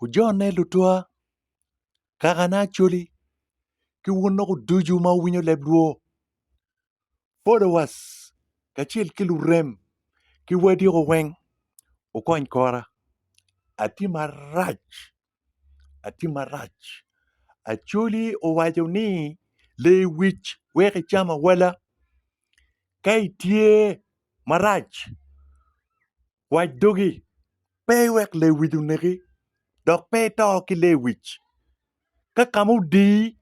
Ojone lutwa, kakane Acholi, ki wun lok ducu ma wuwinyo leb lwo, followers, kacel ki lurem ki wadiko weng, wukony kora. Atye marac, atye marac. Acholi owaco ni lee wic weko icam awala. Ka itye marac Wac dogi, pe iwek lewic oneki, dok pe ito ki lewic. Ka kama odiyi,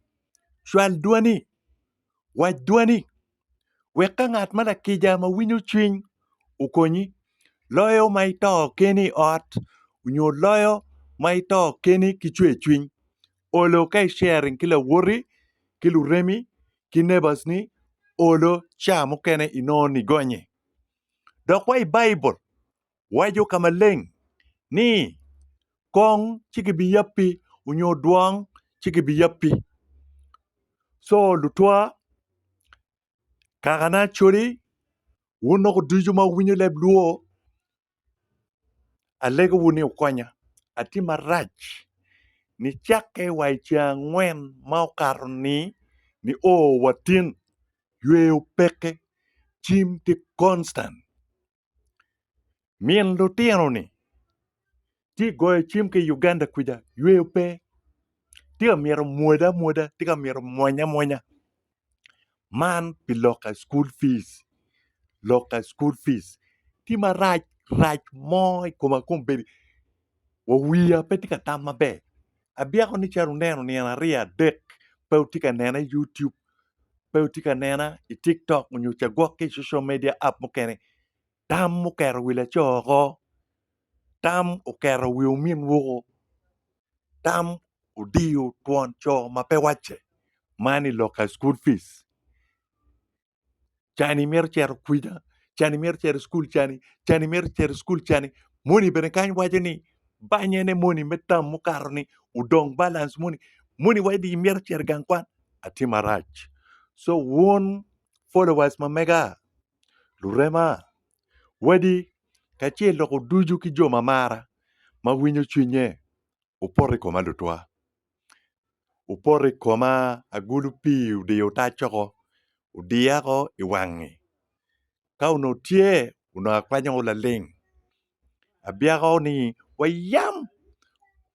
cwal dwani, wac dwani, wek ka ngat ma lakica ma winyo cwiny okonyi, loyo ma ito keni i ot nyo loyo ma ito keni ki cwercwiny. Olo ka i sharing ki lawoti, ki luremi, ki neighbors ni, olo ca mukene inongo nigonye. Dok wa i Baibul waco ka maleng ni, Kong ci gibiyabbi onyo dwong ci gibiyabbi. Co lutwa, kakana Acholi, wun dok ducu ma wuwinyo leb Luo, alegowu ni wukonya atim marac ni cakke wa i ceng angwen ma okato-ni nio wa tin. yweyo peke cim ki konstan. Min lutino ni tye goyo cim ki Uganda kwica yweyo pe tye ka myero omwoda amwoda tye ka myero omwonya amwonya man pi lok ka school fees lok ka school fees tye marac rac mo ikoma kong bedo wa wiya pe tye ka tam maber abyeko ni calo oneno nino aryo adek pe otye ka nena i YouTube pe otye ka nena i TikTok onyo ca gwok ki i social media app mukene tam oketo wi laco oko tam oketo wi omin woko tam odiyo twon co ma pe wacce man i lok ka school fees cani mito cito kwija, cani mito cito i cukul cani, cani mito cito i cukul cani. Moni bene kany waco ni banye ne moni me tam mukato ni odong balance moni. Moni waco ni imito cito i gang kwan, atye marac. So wun followers ma mega, lurema, wadi kacel dok oducu ki jo ma mara ma winyo cwinye, wupoto i koma lutwa. opoto i koma agulu pii odiyo tac woko odiya woko i wangi ka onongo tye onongo akwanyo woko laling abyeko woko ni wayam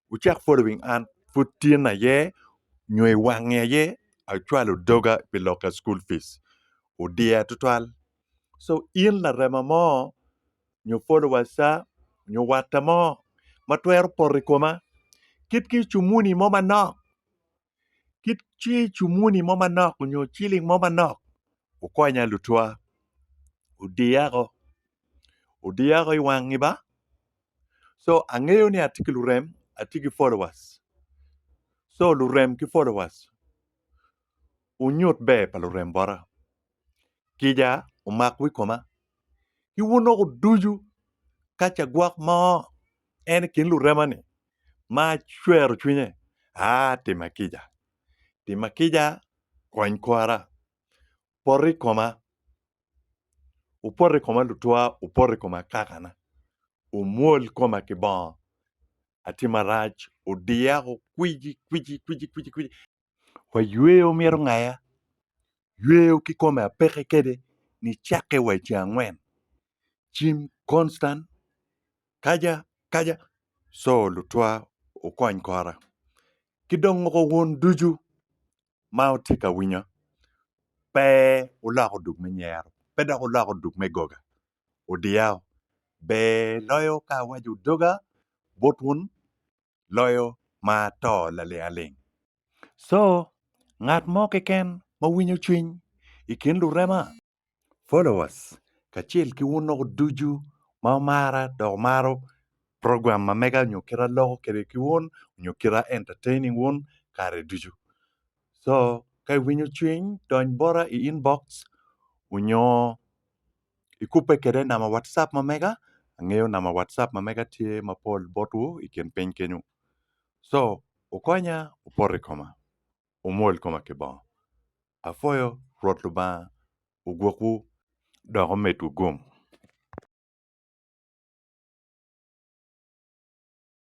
wucek following an pud tin aye nyo i wangi aye acwalo doga pi loka cukul pis odiya tutwal. so in larema mo nyo folowacca nyo watta mo ma twero poto i koma kit ki cumuni mo manok kit ki cumuni mo manok nyo ciling mo manok wukonya lutwa odiya ko odiya ko i wangi ba so angeyo ni atye ki lurem atye ki folowac so lurem ki folowac wunyut ber pa lurem bota. kica omak wi koma ki wun lok ducu ka ce gwok mo en i kin lurema ni ma cwero cwinye aa tima kica tima kica kony kwara pot i koma wupot i koma lutwa wupot i koma akakana wumwol koma ki bongo atima rac odiya o kwici kwici kwici kwici wa yweyo mito ngaya, yweyo kikome apeke kede ni cakke wa ice angwen cim konstan kaja kaja co lutwa wukony kora kidong woko wun ducu ma wutye ka winya pe wulok odug me nyero pe dok wulok odug me goga odiya o ber loyo ka awaco doga bot wun loyo ma to lalialing. Co, ngat mo keken ma winyo cwiny i kin lurema, followers, kacel ki wun loko ducu ma wumara dok wumaro program ma mega nyo kita loko kwede ki wun nyo kita entertaining wun kare ducu. Co, ka iwinyo cwiny dony bota i inbox onyo ikubbe kwede namba wacap ma mega angeyo namba wacap ma mega tye mapol botwu i kin piny kenyo co wukonya wupoto i koma wumwol koma ki bongo apwoyo rwot lubanga ogwokwu dok omedwu gum.